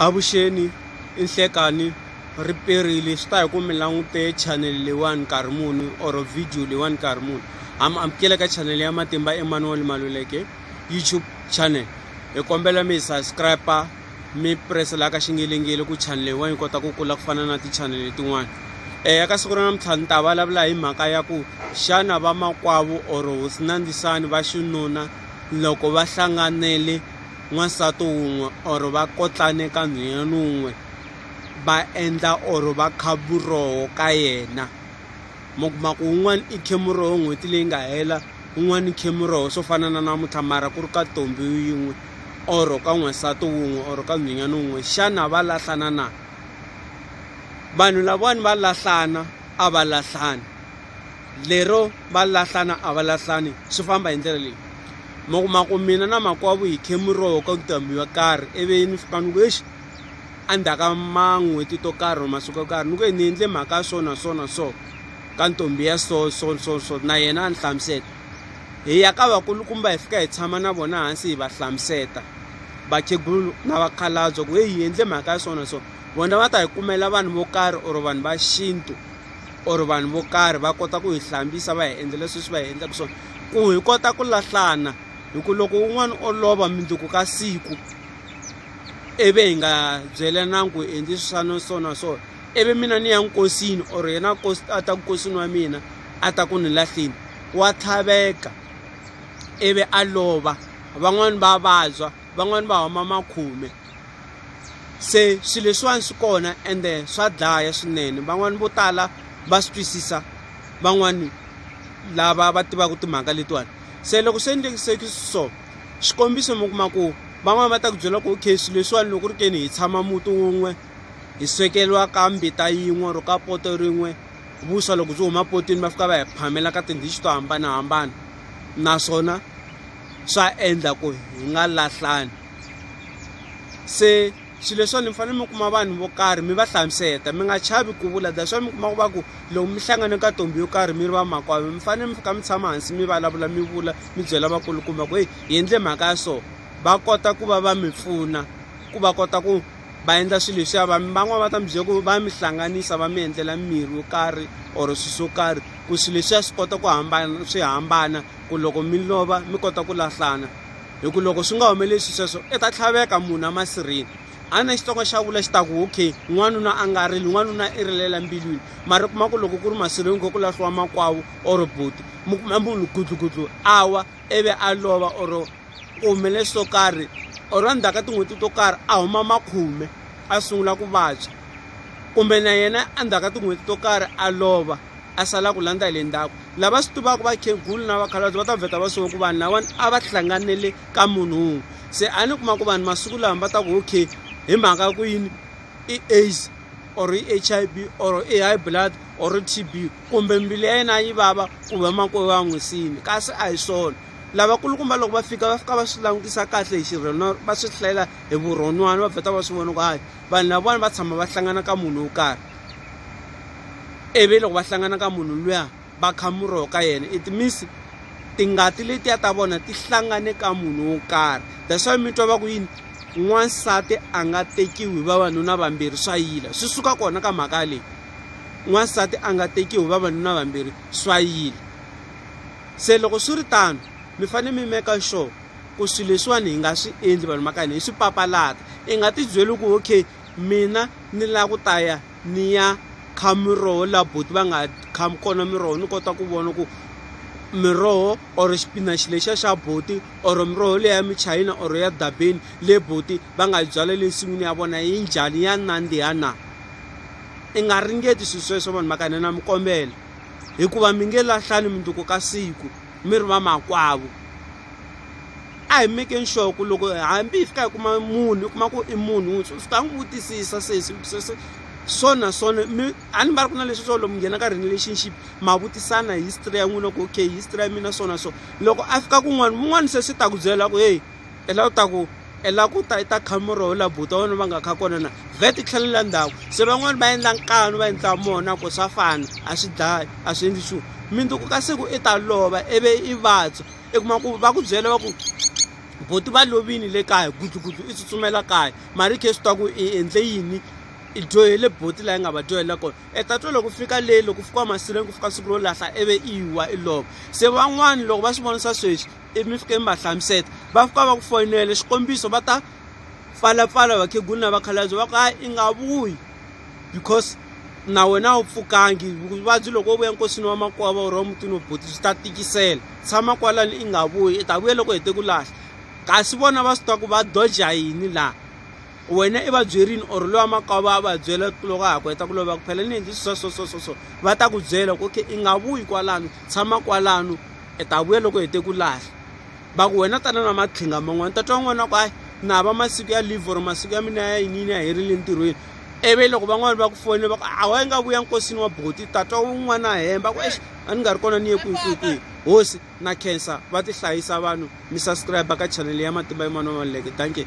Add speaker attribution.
Speaker 1: Avuxeni i Nhlekani riperile swi ta hi ku mi langute channel leyiwani nkarhi muni or video leyiwani nkarhi muni ha mi amukela ka channel ya matimba Emmanuel Maluleke YouTube channel hi kombela mi hi subscribe mi presela ka xingelengele ku channel leyiwani yi kota ku kula ku fana na ti-channel letin'wana um ya ka siku ra namuntlha ni ta vulavula hi mhaka ya ku xana vamakwavo or hosinandisani va xinuna loko va hlanganele N'wansati wun'we or va kotlane ka nhwenyani wun'we va endla or va kha vuroho ka yena mo kuma ku wun'wani i khe muroho n'hweti leyi nga hela wun'wani i khe muroho swo fana na namuntlha mara ku ri ka tombi yin'we or ka n'wansati wun'we or ka nhwenyani wun'we xana va lahlana na vanhu lavawani va lahlana a va lahlani lero va lahlana a va lahlani swi famba hi ndlela leyi ma kuma ku mina na makwavo hi khe muroho ka ntambi yo karhi ivi ni fika ni ku exi endzhaku ka man'hweti to karhi or masiku yo karhi ni ku ni endle mhaka ya so na so na so ka ntombi ya so so so so na yena a ni hlamuseta hi ya ka vakulukumba hi fika hi tshama na vona hansi hi va hlamuseta vakhegulu na vakhalabye ku heyi hi endle mhaka ya so na so vona va ta hi kumela vanhu vo karhi or vanhu va xintu. or vanhu vo karhi va kota ku hi hlambisa va hi endla leswi swi va hi endlaka swona ku hi kota ku lahlana hi ku loko un'wana o lova mindzuku ka siku ivi hi nga byelananga ku endli swa no so na so ivi mina ni ya nkosini or yena kosi a ta ku kosini wa mina a ta ku ni lahleni wa tlhaveka ivi a lova van'wani va vabya van'wani va huma makhume. se swilo leswiwani swi kona ende swa dlaya swinene van'wani vo tala va swi twisisa van'wani lava va tivaka timhaka letiwani se loko swi endlekiseki so xikombiso mi kuma ku van'wani va ta ku byela ku okay swilo leswiwani loko ri keni hi tshama muti wun'we hi swekeriwa ka mbita yin'we or ka poto rin'we vuswa loko byi huma potweni va fika va hi phamela ka tindichi to hambanahambana naswona swa endla ku hi nga lahlani se xilo leswiwani mi fanele mi kuma vanhu vo karhi mi va hlamuseta mi nga chavi ku vula that's why mi kuma ku va ku loko mi hlangane ka ntombi yo karhi mi ri vamakwavo mi fanele mi fika mi tshama hansi mi vulavula mi vula mi byela vakulukumba ku heyi hi endle mhaka ya so va kota ku va va mi pfuna ku va kota ku va endla swilo leswiya va van'wani va ta mi byela ku va mi hlanganisa va mi endlela mirhi yo karhi or swilo swo karhi ku swilo leswiya swi kota ku hambana swi hambana ku loko mi lova mi kota ku lahlana hi ku loko swi nga humelelisi sweswo i ta tlhaveka munhu amasirheni a na xitsonga xa vula xi ta ku okay n'wanuna a nga rili n'wanuna i rilela mbilwini mara kuma ku loko ku ri masirheni ko ku lahliwa makwavo or buti mi kuma munhu gudlugudlu a wa ivi a lova or ku humelele swo karhi or endzhaku ka tin'hweti to karhi a huma makhume a sungula ku vabya kumbe na yena endzhaku ka tin'hweti to karhi a lova a sala ku landza hi le ndzhaku lava swi tivaka vakhegulu na vakhalabye va ta vheta va swiva ku vanhu lavawani a va hlanganele ka munhu wun'we se a ni kuma ku vanhu masiku lawa va ta ku okay hi mhaka ku yini i aids or i h i v or i high blood or i t b kumbe mbilu ya yena yi vava ku va makoyi va n'wi sini kasi a hi swona lavakulukumba loko va fika va fika va swi langutisa kahle hi xirheno va swi hlayela hi vurhon'wana va vheta va swi vona ku hayi vanhu lavawani va tshama va hlangana ka munhu wo karhi ivi loko va hlangana ka munhu luya va kha muroho ka yena it means tingati letiya ta vona ti hlangane ka munhu wo karhi that's why mi twa va ku yini n'wansati a nga tekiwi hi vavanuna vambirhi swa yila swi suka kona ka mhaka leyi n'wansati a nga tekiwi hi vavanuna vambirhi swa yila se loko swi ri tano mi fanele mi meka sure ku swilo leswiwani hi nga swi endli vanhu va ka hina hi swi papalata i nga ti byeli ku okay mina ni lava ku ta ya ni ya kha miroho laha boti va nga kha kona miroho ni kota ku vona ku miroho or xipinaxi lexiya xa boti or miroho leyi ya michayina or ya dabeni le boti va nga yi byala le nsin'wini ya vona yi njhani ya nandziha na i nga ringeti swilo sweswo vanhu va ka hina na mi kombela hikuva mi nge lahlani mundzuku ka siku mi ri va makwavo a hi mekeni sure ku loko hambi hi fika hi kuma munhu hi kuma ku i munhu wuntshwa swi ta n'wi vutisisa sesi sesi so na so mi a ni va ri ku na leswi swo lomu nghena ka relationship ma vutisana history ya n'wina ku okay history ya mina so na so loko a fika kun'wana mun'wana se swi ta ku byela ku heyi ela u ta ku e la ku ta i ta kha murhi wu la buta wona va nga kha kona na vet i tlhelela ndhawu se van'wani va endla nkanu va endla mona ku swa fana a swi dlayi a swi endli xu minduku ka siku i ta lova ivi i vabya i kuma ku va ku byela va ku boti va lovini le kaya gudlugudlu i tsutsumela kaya mara i khe swi twa ku i endle yini i dyohele boti laha yi nga va dyohela kona e ta twa loko fika leyi loko fika wa masirheni ku fika siku ro lahla ivi i wa i lova se van'wani loko va swi vonisa sweswi ivi mi fike mi va hlamuseta va fika va ku foyinele xikombiso va ta pfalapfala vakhegula na vakhalabye va ku hayi i nga vuyi because na wena u pfukangi vuvabyi loko wo vuya nkosini wa makwava or wa mutini wo boti byi ta tikisela tshama kwalani i nga vuyi i ta vuya loko hete ku lahla kasi vona va swi tiva ku va doja yini laha wena i va byerini or lowa makwava a va byela loko a ha ku heta ku lova ku phela ni endli swi swa so so so so va ta ku byela ku okay i nga vuyi kwalano tshama kwalano i ta vuya loko hi te ku lahla va ku wena tana na matlhinga man'wana ta twa n'wana ku ayi na va masiku ya leave or masiku ya mina ya yiniyini ya herile ntirhweni ivi loko van'wana va ku fonela va ku a wa yi nga vuya nkosini wa boti ta twa un'wana a hemba ku exi a ni nga ri kona ni ye kwihi kwihi kwihi hosi na khensa va ti hlayisa vanhu mi subscribe ka chanele ya matimba yin'wana wa maluleke danke